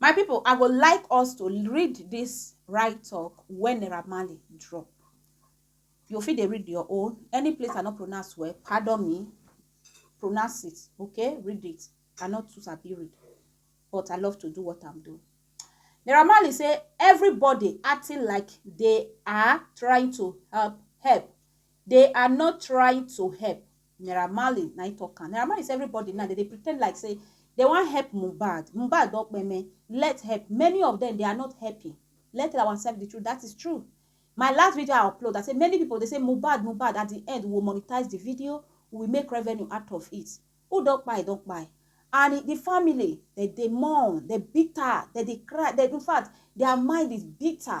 My people I go like us to read this right talk when Naira Marley drop. You fit dey read your own. Any place I no pronounce well, pardon me. Pronounce it, okay? Read it. I no too sabi read, but I love to do what I'm doing. Naira Marley say everybody acting like they are trying to help help. They are not trying to help. Naira Marley na im talk am. Naira Marley say everybody now dem dey pretend like say dem wan help Mohbad. Mohbad don kpeme. Let help. Many of them they are not helping. Let tell ourselves the truth. That is true. My last video I upload, I say many people they say Mohbad, Mohbad. At the end, we will monetize the video. We will make revenue out of it. Who don kpai, don kpai. And the family, they dey mourn, they bitter, they dey cry. They, in fact, their mind is bitter.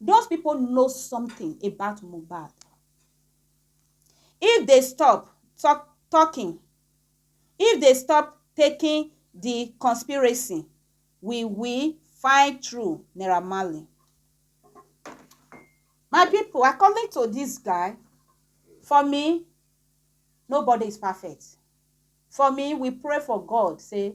Those people know something about Mohbad. If they stop talk, talking, if they stop taking the conspiracy, we will find true Naira Marley. My people, according to this guy, for me, nobody is perfect. For me, we pray for God, say,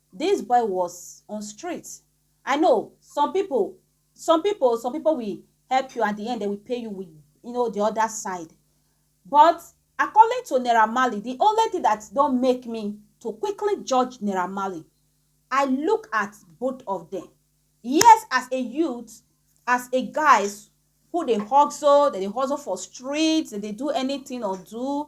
This boy was on street I know some people some people some people will help you at the end they will pay you with you know the other side but according to Naira Marley the only thing that don't make me to quickly judge Naira Marley I look at both of them yes as a youth as a guys who dey hustle dem dey hustle for street dem dey do anything or do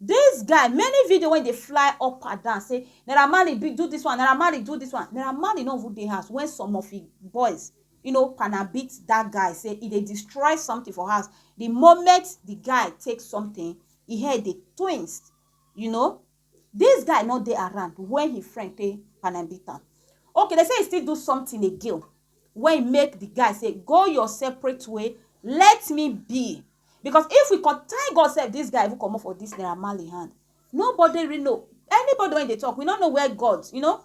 This guy many video wey dey fly up and down say Naira Marley be do this one, Naira Marley do this one. Naira Marley no even dey house when some of him boys you know pana beat that guy say he dey destroy something for house. The moment the guy take something, him head dey twinst. You know, this guy no dey around when him friend take pana beat am. Okay, they say he still do something again. wey e make di guy say go your separate way let me be because if we come thank God sef dis guy even comot for dis Naira Marley hand nobody really know anybody wey dey talk we no know where God you know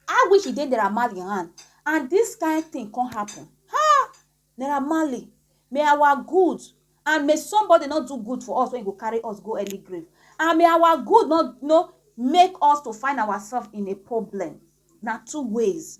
how wish e dey Naira Marley hand and dis kind thing come happen ha Naira Marley may our good and may somebody no do good for us wey go carry us go early grave and may our good no no make us to find ourselves in a problem na two ways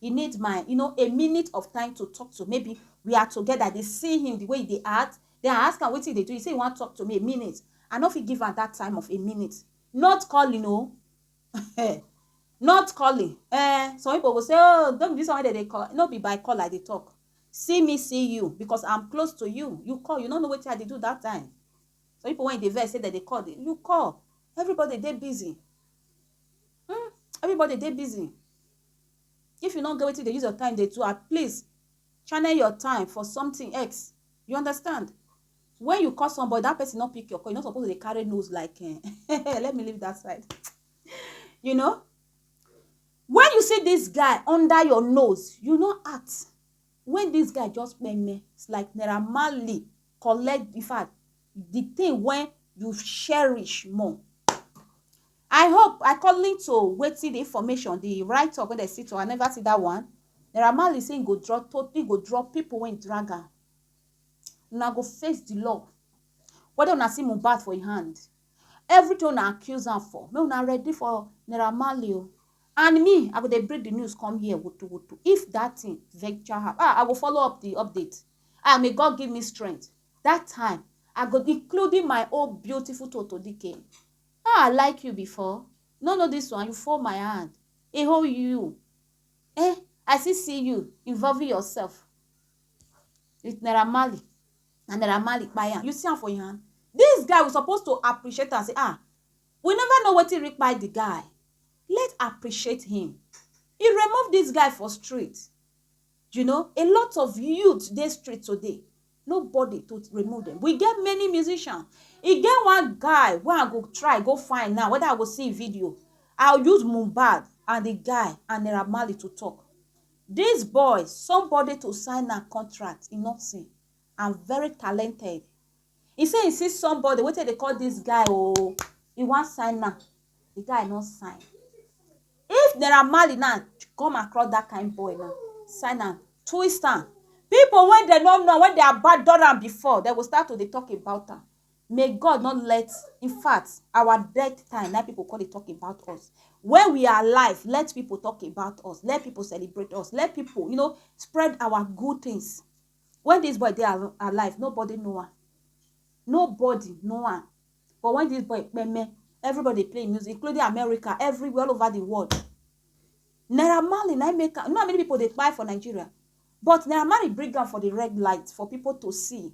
He need my you know a minute of time to talk to maybe we are together I dey see him the way he dey act then I ask am wetin he dey do he say he wan talk to me a minute I no fit give am that time of a minute not calling o eh not calling eh some people go say oh no be this one wey dem dey call no be by call I dey talk see me see you because I'm close to you you call you no know wetin I dey do that time some people when you dey vex say dem dey call you call everybody dey busy hmm everybody dey busy If you no get wetin you dey use your time dey do, at least channel your time for something else. You understand? When you call somebody, that person no pick your call, you no suppose dey carry nose like, eh, let me leave that side. you know? When you see this guy under your nose, you no act. When this guy just meme, it's like Naira Marley collect, in fact, the thing wey you cherish more. I hope according to wetin the information, the write up wey dem see to I never see that one. Naira Marley say he go draw to he go draw people wey drag am. Una go face the law. Whether una see Mohbad for him hand, everything una accuse am for, make una ready for Naira Marley o. And me, I go dey bring the news come here woto woto if that thing venture happen. Ah, I go follow up the update. Ah, may God give me strength. That time I go including my own beautiful Toto Dike. How I like you before? No know this one, you fall my hand. E hold you. Eh, I still see you involving yourself with Naira Marley. Na Naira Marley kpai am. You see am for your hand? This guy we suppose to appreciate am say ah, we never know wetin really kpai the guy. Let's appreciate him. He remove this guy for street. You know, a lot of youth dey street today, nobody to remove them. We get many musicians. E get one guy wey I go try go find now, whether I go see im video. I use Mohbad and the guy and Naira Marley to talk. This boy, somebody to sign am contract, e no see, and very talented. He say he see somebody wey take dey call this guy oh, he wan sign am, the guy no sign. If Naira Marley now come across that kind boy now, sign am, twist am, people wey dem no know, wey dem abandon am before, dem go start to dey talk about am. May God no let, in fact, our death time na im people go come dey talk about us. When we are alive, let people talk about us, let people celebrate us, let people you know spread our good things. Wen dis boy dey alive, nobody know am, nobody know am but wen dis boy kpeme, everybody dey play im music including America, everywhere, all over di world. Naira Marley na im make am, you know how many pipu dey kpai for Nigeria but Naira Marley bring am for di red light for pipu to see.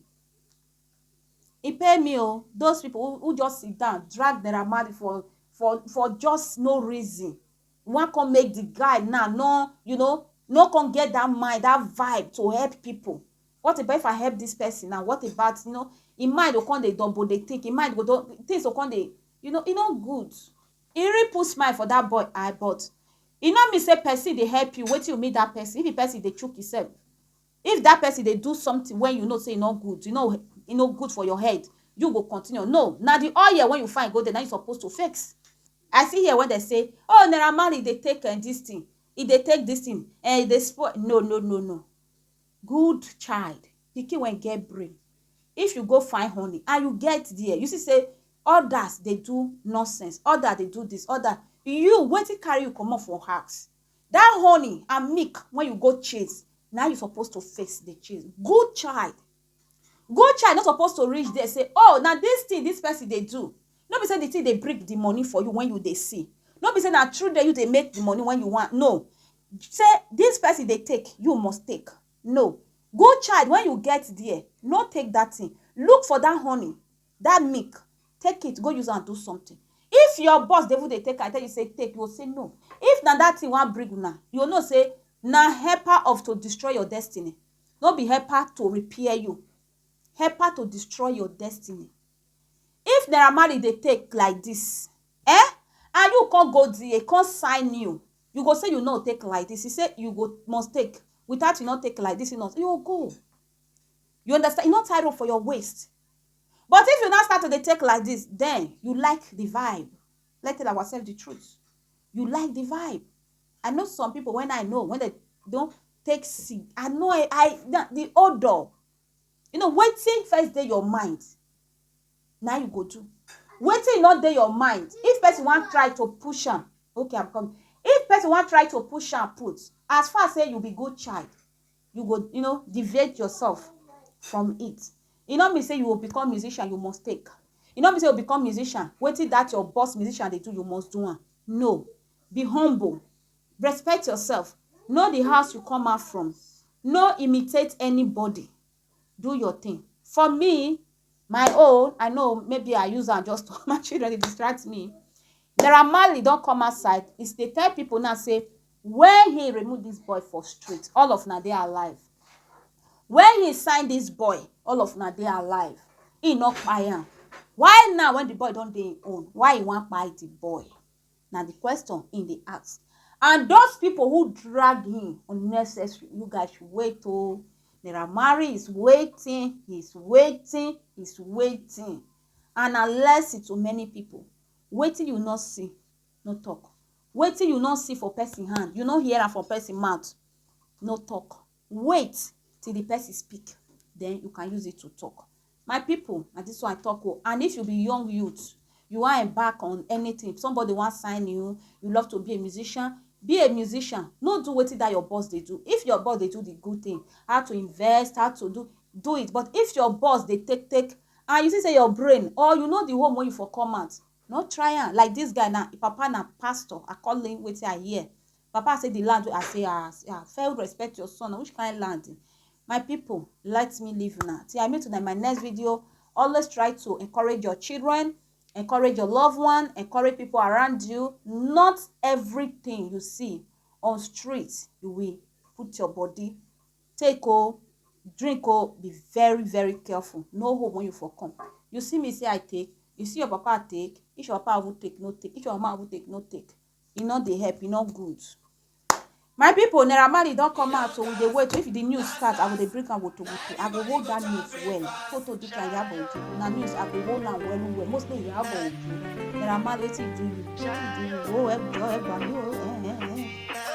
E pain me o, those pipu who just sit down drag Naira Marley for for for just no reason. wan come make the guy now no you know no come get that mind that vibe to help people what about if i help this person now what about you know im mind go come dey double dey think im mind go don things go come dey you know e no good e really put smile for that boy eye but e no mean say person dey help you wetin you meet that person if the person dey chook himself If that person dey do something wey you know say e no good, you know e no good for your head, you go continue? No, na the oil wey you find go there na im you suppose to fix. I see here wey dem say, oh Naira Marley dey take um this thing, e dey take this thing, um e dey spoil, no no no no. Good child, pikin wey get brain, if you go find honey and you get there, you see say others dey do nonsense, others dey do this, others, you wetin carry you comot for house? That honey and milk wey you go chase na you suppose to first dey chase. Good child, good child no suppose to reach there say oh na this thing this person dey do no be say the thing dey bring the money for you when you dey see no be say na through there you dey make the money when you want no say this person dey take you must take no good child when you get there no take that thing look for that honey that milk take it go use am do something if your boss dey even dey take am tell you say take you go say no if na that thing wan bring una you go know say na helper of to destroy your destiny no be helper to repair you helper to destroy your destiny if naira marley dey take like this eh and you come go there come sign you you go say you no take like this he say you go must take without you no take like this you no you go go you understand you no tie rope for your waist But if you now start to dey take like this, then you like the vibe. Let's tell ourselves the truth. You like the vibe. I know some people when I know when they don't take seed. I know I, I the, the odor. You know, waiting first day your mind. Now you go to. Waiting not day your mind. If person want try to push on, okay, I'm coming. If person want try to push and put, as far as say you be good child, you go you know deviate yourself from it e no mean say you go become musician you must take e no mean say you become musician wetin that your boss musician dey do you must do am no be humble respect yourself know the house you come out from no imitate anybody do your thing for me My own, I know maybe I use am just to my children dey distract me. Naira Marley don come outside, he dey tell people now say when he remove this boy for street, all of una dey alive. When he sign this boy, all of una dey alive. He no kpai am. Why now when the boy don dey him own, why he wan kpai the boy? na di question im dey ask and those pipo who drag him unnecessary you guys should wait oh Naira Marley is waiting he is waiting he is waiting and na lesson to many pipo wetin you no see no talk wetin you no see for person hand you no hear am for person mouth no talk. Wait till the person speak, then you can use it to talk. My people, na this one I talk o. Oh. And if you be young youth, you wan embark on anything, if somebody wan sign you, you love to be a musician, be a musician. No do wetin that your boss dey do. If your boss dey do the good thing, how to invest, how to do, do it. But if your boss dey take take, and you see say your brain or you know the home wey you for come out, no try am. Like this guy now, papa na pastor, according wetin I hear. Papa say the land wey I say ah ah fail respect your son na which kind land my people let me leave una till I meet una in my next video always try to encourage your children encourage your loved one encourage people around you not everything you see on street you will put your body take o drink o be very very careful no hope when you for come you see me say I take you see your papa take if your papa even take no take if your mama even take no take e no dey help e no good my people naira marley don come out so we dey wait if the news start i go dey bring am woto woto i go hold that news well photo this na yabo ojo na news i go hold am well well mostly yabo ojo naira marley wetin do you wetin do you oh ẹgbẹ ẹgbà mi o ẹ ẹ ẹ.